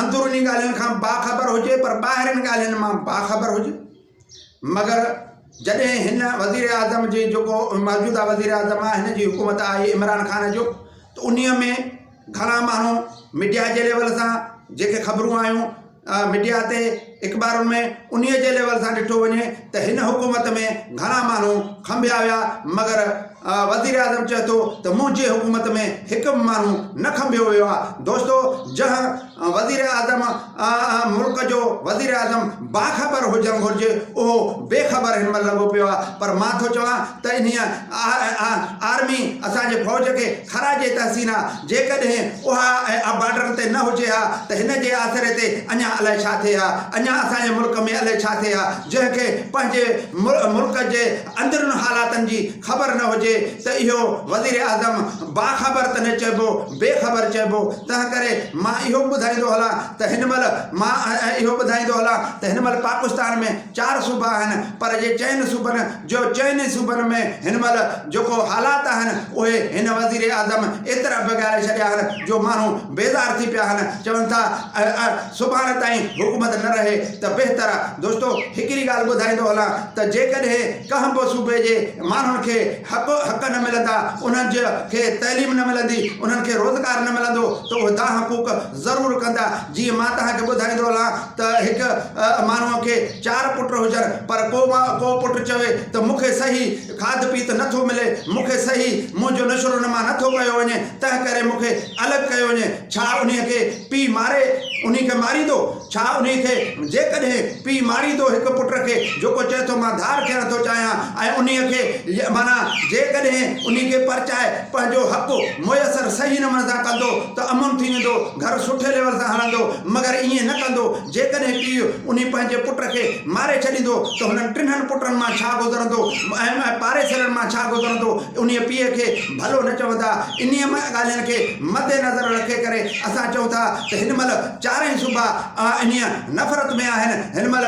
اندروني ڳالهين کان باخبر هجي پر ٻاهرين ڳالهين مان باخبر هجي مگر جڏهن هن وزيراعظم جي جيڪو موجوده وزيراعظم آهي هن جي حڪومت آئي عمران خان جو ته ان ۾ گهڻا ماڻهو ميڊيا جي ليول سان جيڪي خبرون آيون ميڊيا تي اخبارن ۾ انهيء جي ليول سان ڏٺو وڃي ته هن حڪومت ۾ گهڻا ماڻهو کنڀيا ويا مگر وزيراعظم چئي ٿو ته منهنجي حڪومت ۾ هڪ به ماڻهو نه کنڀيو ويو آهي دوستو جنهن وزيراعظم ملڪ جو وزيراعظم باخبر هجڻ گهرجي اهو بي خبر هن مهل لڳو پيو آهي پر مان ٿو چوان ته انهيء آرمي اسان جي فوج کي خراج تحسين آهي جيڪڏهن اها ۽ اھا بارڊرن تي نه هجي ها ته هن جي آسري تي اڃا الائي ڇا ٿئي ها، اڃا اسان جي ملڪ ۾ الئي ڇا ٿئي ها، جنهن کي پنهنجي ملڪ جي اندرون حالاتن جي خبر نه هجي ته اهو وزيراعظم باخبر ته نه چئبو بي خبر چئبو، تنهنڪري مان اهو به ٻڌائيندو هلان ته هن مھل مان اهو ٻڌائيندو هلان ته هن مھل پاڪستان ۾ چار صوبا آهن پر جي چئن صوبن جو چئني صوبن ۾ هن مهل جيڪو حالات آهن اهي هن وزيراعظم ايترا بگاڙي ڇڏيا آهن جو ماڻهو بيزار ٿي پيا آهن چون ٿا اهه اهه سڀاڻي تائين حڪومت نه رهي ته بهتر آ دوستو هڪڙي ڳالهه ٻڌائيندو هلان ته جيڪڏهن ڪنهن به صوبي جي ماڻهن کي حق حق نه ملندا انهن جي کي تعليم نه ملندي انهن کي روزگار نه ملندو ته اهي دانهن ڪوڪ ضرور ڪندا، جيئن مان توهان کي ٻڌائيندو هلان ته هڪ ماڻهوء کي چار پٽ هجن، پر ڪو ڪو پٽ چوي ته مون کي صحيح کاڌ پيت نه ٿو ملي، مون کي صحيح منهنجو نشو نما نه ٿو ڪيو وڃي، تنهنڪري مون کي الڳ ڪيو وڃي، ڇا انهيء کي پيء ماري انهيء کي ماريندو؟ ڇا انهي کي جيڪڏهن پيء ماري ٿو هڪ پٽ کي جيڪو چئي ٿو مان ڌار ٿيڻ ٿو چاهيان ۽ انهي کي معنيٰ جيڪڏهن انهي کي پرچائي پنهنجو حق ميسر صحيح نموني سان ڪندو ته امن ٿي ويندو گهر سٺي ليول سان هلندو مگر ائين نه ڪندو جيڪڏهن پيء انهي پنهنجي پٽ کي ماري ڇڏيندو ته هنن ٽنهن پٽن مان ڇا گذرندو ۽ پاڙيسرين مان ڇا گذرندو انهي پيء کي ڀلو نه چوندا انهي ڳالهين کي مدنظر رکي ڪري اسان چئون ٿا ته هن مهل چارئي صوبا انهيء نفرت ۾ آهن. هن مهل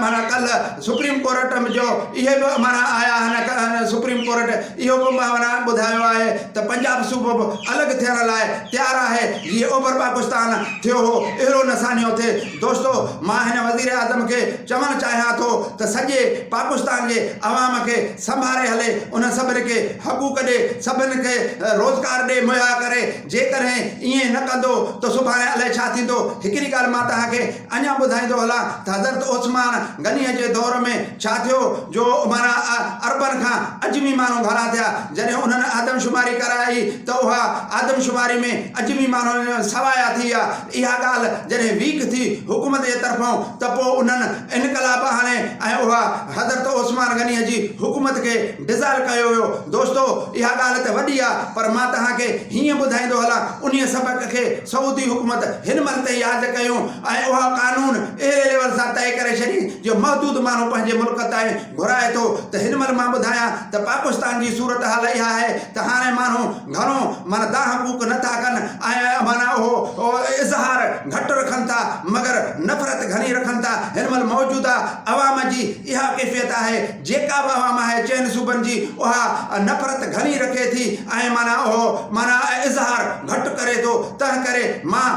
معنيٰ ڪلهه سپريم ڪورٽ جو اهي به معنيٰ آيا آهن ته سپريم ڪورٽ اهو به معنيٰ ٻڌايو آهي ته پنجاب صوبو به الڳ ٿيڻ لاء تيار آهي جيئن اوڀر پاڪستان ٿيو هو اهڙو نه سانحو ٿئي. دوستو مان هن وزيراعظم کي چوڻ چاهيان ٿو ته سڄي پاڪستان جي عوام کي سنڀاري هلي انهن سڀني کي حقوق ڏي سڀني کي روزگار ڏي مهيا ڪري. جيڪڏهن ائين نه ڪندو ته سڀاڻي الائي ڇا ٿيندو. هڪڙي ڳالهه مان توهان کي اڃا ٻڌائيندو هلان ته حضرت عثمان غنيء جي دور ۾ ڇا ٿيو جو امراء عربن کان عجمي ماڻهو گهڻا ٿيا. جڏهن انهن آدمشماري ڪرائي ته اها آدمشماري ۾ عجمي ماڻهن جا سوايا ٿي ويا. اها ڳالهه جڏهن ويڪ ٿي حڪومت جي طرفون ته پوء انهن انقلاب آڻي ۽ اها حضرت عثمان غنيء جي حڪومت کي ڊزال ڪيو ويو. دوستو! اها ڳالهه ته وڏي آ پر مان توهان کي هيئن ٻڌائيندو هلان انهيء سبق کي سعودي حڪومت هن مهل تائين ياد ڪيو ۽ اها قانون اهڙي ليول سان طئي ڪري ڇڏي جو محدود ماڻهو پنهنجي ملڪ تائين گهرائي ٿو ته هن مهل مان ٻڌايان ته پاڪستان جي صورتحال اها آهي ته هاڻي ماڻهو گهڻو معنيٰ دانهن ڪوڪ نه ٿا ڪن ۽ معنيٰ اهو اظهار گهٽ رکن ٿا مگر نفرت گهڻي رکن ٿا هن مهل موجوده عوام جي اها ڪيفيت آهي جيڪا به عوام آهي چئن صوبن جي اها نفرت گهڻي رکي ٿي ۽ معنيٰ اهو معنيٰ ۽ اظهار گهٽ ڪري ٿو تنهن ڪري مان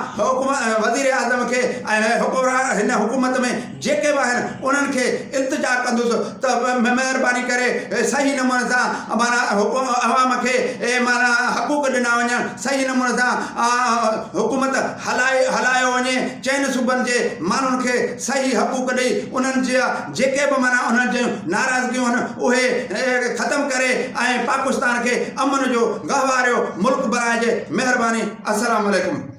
وزيراعظم کي ۽ حڪمران هن حڪومت ۾ جيڪي به آهن انهن کي التجا ڪندس ته مهرباني ڪري صحيح نموني سان معنيٰ عوام کي معنيٰ حقوق ڏنا وڃن صحيح نموني سان حڪومت هلايو وڃي چئن صوبن جي ماڻهن کي صحيح حقوق ڏئي انهن جا جيڪي به معنيٰ انهن جون ناراضگيون هن اهي ختم ڪري ۽ پاڪستان کي امن جو گهواريو ملڪ بڻائجي مهرباني السلام عليڪم.